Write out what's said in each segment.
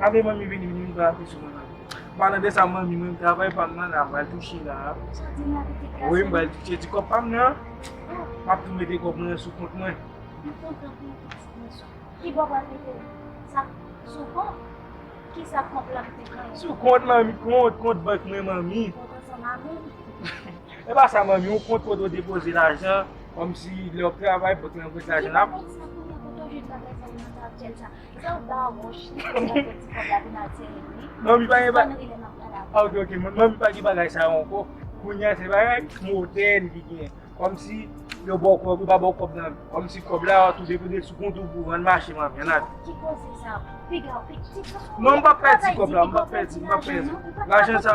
Ave manmi vini vini vini pran ape sou mwen la. Palan de sa manmi mwen travay pa mwen la mwen touche la. Woy mwen bal touche ti kop pa mwen la. Map tou mete kop mwen sou kont mwen. Mwen kontan pou mwen touche mwen sou. Ki bo wap mete la? Sa sou kont? Ki sa kont la mwen te kont? Sou kont manmi kont kont bank mwen manmi. Kont ansan manmi. E pa sa manmi ou kont kote ou depoze la jan. Kòmsi lè wap travay pot lan pwent lajan ap. Manmi pa gen bagay sa ok ok manmi pa gen bagay sa yo ankò kounya se bagay modèn ki gen kòmsi yo baw kòb yo pa baw kòb nan kòmsi kòb la wap touche pou sou kont ou pou ann mache manmi ann ale. Ki koze sa yo pigaw pi ti kòb la. Non mpap pèdi kòb la mpap pèdi mpap pèdi lajan sa.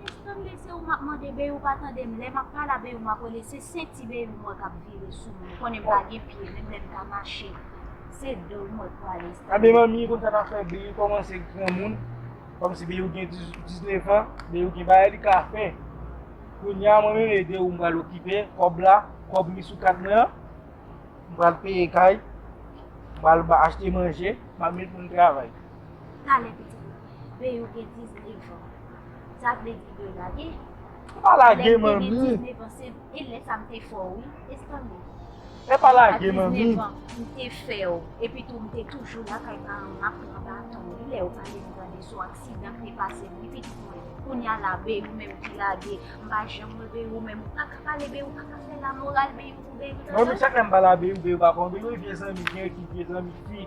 Eske tann de se ou map mande bby ou pa tandem lè map pala bby map wèle se senti bby mwen kap vire sou mwen konnen m pa gen pye menm lèm ta mache se do l mwen pwale style. Anbyen manmi konn sa nap fè bby kòmanse granmoun kòmsi bby gen 19 ans bby gen bagay li ka fè kounya mwen menm e de ou m pral okipe kòb la kòb mi sou kat mwen an m pral peye kay m pral achte manje map met moun travay. Talè pitit mwen. Ve yo gen 19 an. Sa vle di yo lage? Ou pa lage manmi. Lè m te gen 19 an se e lè sa m te fè w wi. Esi tande. E pa lage manmi. A 19 an m te fè w. Epi tou m te toujou lakay paran m ap pran baton wi lè yo pale m tande sou aksidan ki te pase m wi pitit mwen. Kounya la ve ou menm ki lage. M pa janm wè ve ou menm. Ou pa ka pale ve ou pa ka fè lamoral ve ou pou ve ou. Manmi chak lè m pa la ve ou ve ou pa konn. Ve ou e vye zanmi gen ki vye zanmi fi.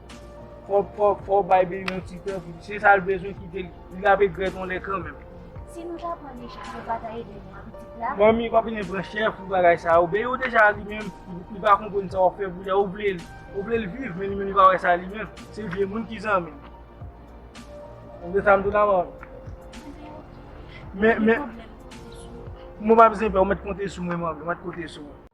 Fok fok fok bay Beny yon ti tan pou se sal bezwen kite li li ap egrèt yon lè kanmenm. Si nou ta pran deja nou pa ta ede nou a pitit la. Manmi pa vine pran chè pou bagay sa yo Beny ou deja li menm li pa konprann sa wap fè pou li a ou vle li ou vle li viv men li menm li pa wè sa li menm se vye moun ki zanmi li ou gen sa m di w la manmi. Ebyen ok men men. Gen pwoblèm konte sou mwen. Mwen pa bezwen pè ou mèt konte sou mwen manmi mèt konte sou mwen.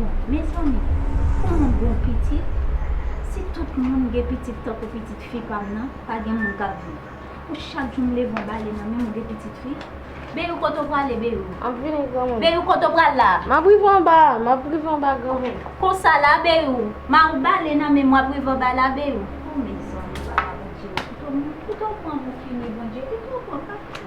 Bon mezanmi pou moun gon pitit si tout moun gen pitit tankou pitit fi pam nan pa gen moun kap viv pou chak jou m leve yon bale nan menm ou gen pitit fi Beyou kote w prale Beyou Map vini granmoun Beyou kote w pral la Map rive anba map rive anba granmoun Konsa la Beyou ma ou bale nan menm wap rive anba la Beyou oh mezanmi papa Bondye pito pran pou fini Bondye pito pran.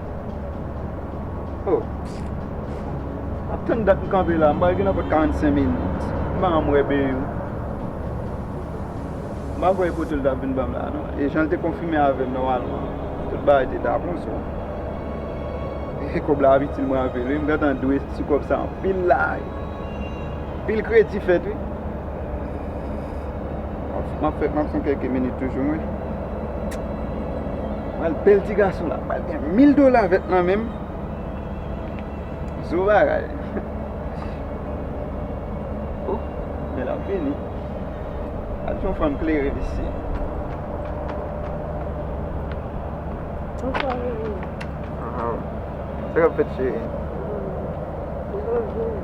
Oh Map tann dat m kanpe la m pral gen nan pot 45 minit m pa janm wè beny m pa kwè e poto l tap vin banm la non e jan l te konfime avèm nòmalman tout bagay te ta bon so e kòb la ap itil mwen anpil wi m gentan dwe sou kòb sa anpil la anpil kredi fèt wi. Map fè, map fè kèk minit toujou mwen. Mwen bèl ti gason la, mwen gen 1000 dola vèt nan menm. Zo bagay. O, oh, men la vini. A ti yon fanm klere disi. Mwen fè yon vini. Aha. Se kap fèt cheri. Mwen fè yon vini.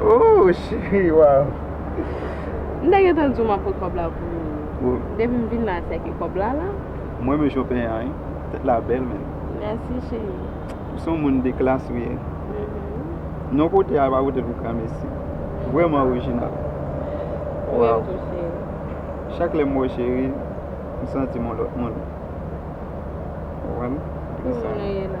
Ooh cheri waw. M te gentan di w map pran kòb la pou ou. Depi m vin la se ke kòb la la. M renmen jan w penyen an wi. Tèt la bèl menn. Mèsi cheri. Ou son moun de klas ou ye. Non kote a yo pa pote l pou granmesi. Vrèman orijinal. Ou menm tou cheri. Chak lè m wè w cheri, m santi m yon lòt moun. Ou konprann? Ki moun ou ye la?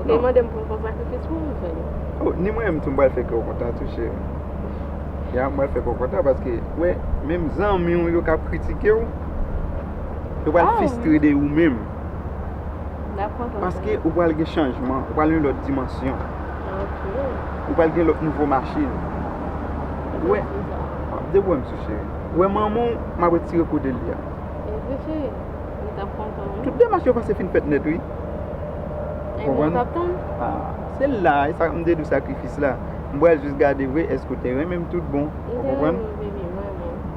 Ou te mande m pou m fè sakrifis pou ou, Seyè. O, ni mwen menm tou m pral fè kè w kontan tou, cheri. Ya, m pral fè kè w kontan paske, ou wè, menm zanmi w yo k ap kritike w, yo pral fistre de ou menm. Y ap kontan. Paske ou pral gen chanjman, ou pral gen yon lòt dimansyon. Ok. Ou pral gen lòt nouvo machin. Ou wè? Depi w wè m sou, cheri. Ou wè manman w, m ap retire kou de li a. Wi, cheri. Yo tap kontan wi. Tout demach yo pase fin fèt nèt wi. Ou konprann? Ebyen yo tap tann. Ah, se la, e sa m te di w sakrifis la. M pral jis gade vre èske w te renmen m tout bon. Ou konprann? M te renmen w baby, m renmen w.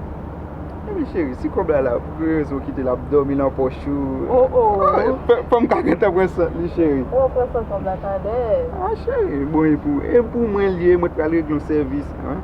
Ebyen cheri, si kòb la la, pou ki rezon w kite l ap dòmi lan pòch ou? Oh oh. Fanm ka gentan pran sant li cheri. Ou ap pran sant kòb la tadè. Ah cheri, bon e pou, e pou mwen l ye, mwen t pral regle yon sèvis anh.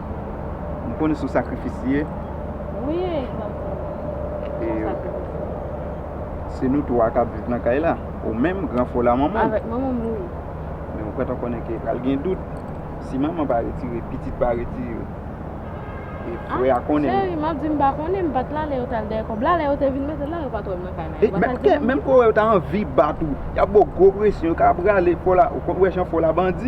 M konn sou sakrifis li ye. Wi e m ap konn sou sakrifis li ye. Se nou 3 k ap viv nan kay la. Ou menm, gran fo la manman. Avèk manman m wi. Men ou prèt an konnen ke pral gen dout. Si manman pa retire, pitit pa retire. E frè a konnen. A cheri m ap di m pa konnen. M pa t la lè yo t al dèyè kòb la. Lè yo te vin mete l la, yo pa t wè m nan kay la. Yo pa t al di manman. Menm kò wè yo ta anvi bat ou. Y ap ba w gwo presyon. Yo ka rale fo la. Ou konn wè jan fo la bandi.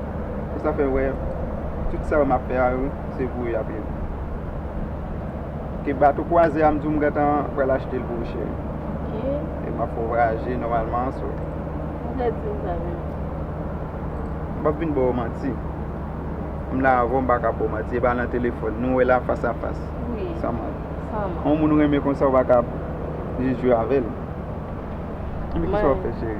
Pou sa fè wè, tout sa yo m ap fè a yo, se pou yo y ap ye. Ke bato kwazè a m di w m gentan pral achte l pou ou cheri. Ok. E m ap fè w vwayaje nòmalman, so. Ou vle di m sa vle di. M p ap vin ba w manti. M la avè w m pa ka ba w manti. E pa nan telefòn. Nou wè la fas a fas. Wi. San manti. San manti. Yon moun ou renmen konsa ou pa ka jis jwe avè l. Mwen. Ki sa w ap fè cheri?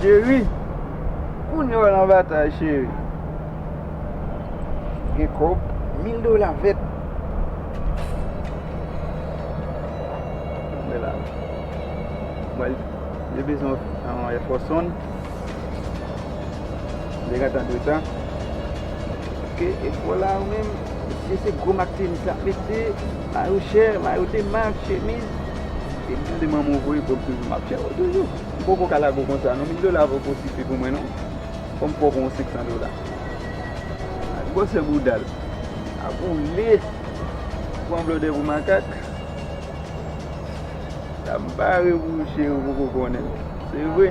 Cheri, kounye a w nan batay cheri. Gen kòb, mil dola vèt. Mwen la. Mwen li bezwen an Air Force One. Li gen tan dwe tan. Ok, e kò la ou menm, mesye se gwo mak tenis l ap mete. Mayou chè, mayou de mak, chemiz. Depi tande manman w voye kòb toujou map chè w toujou. M poko ka lague w konsa non, 1000 dola poko sifi pou mwen non. Fò m poko yon 500 dola. Gade gwòsè bouda l. Ap woule. Ou pran blòdè pou makak. Sa m pare pou ou cheri ou poko konnen l. Se vre.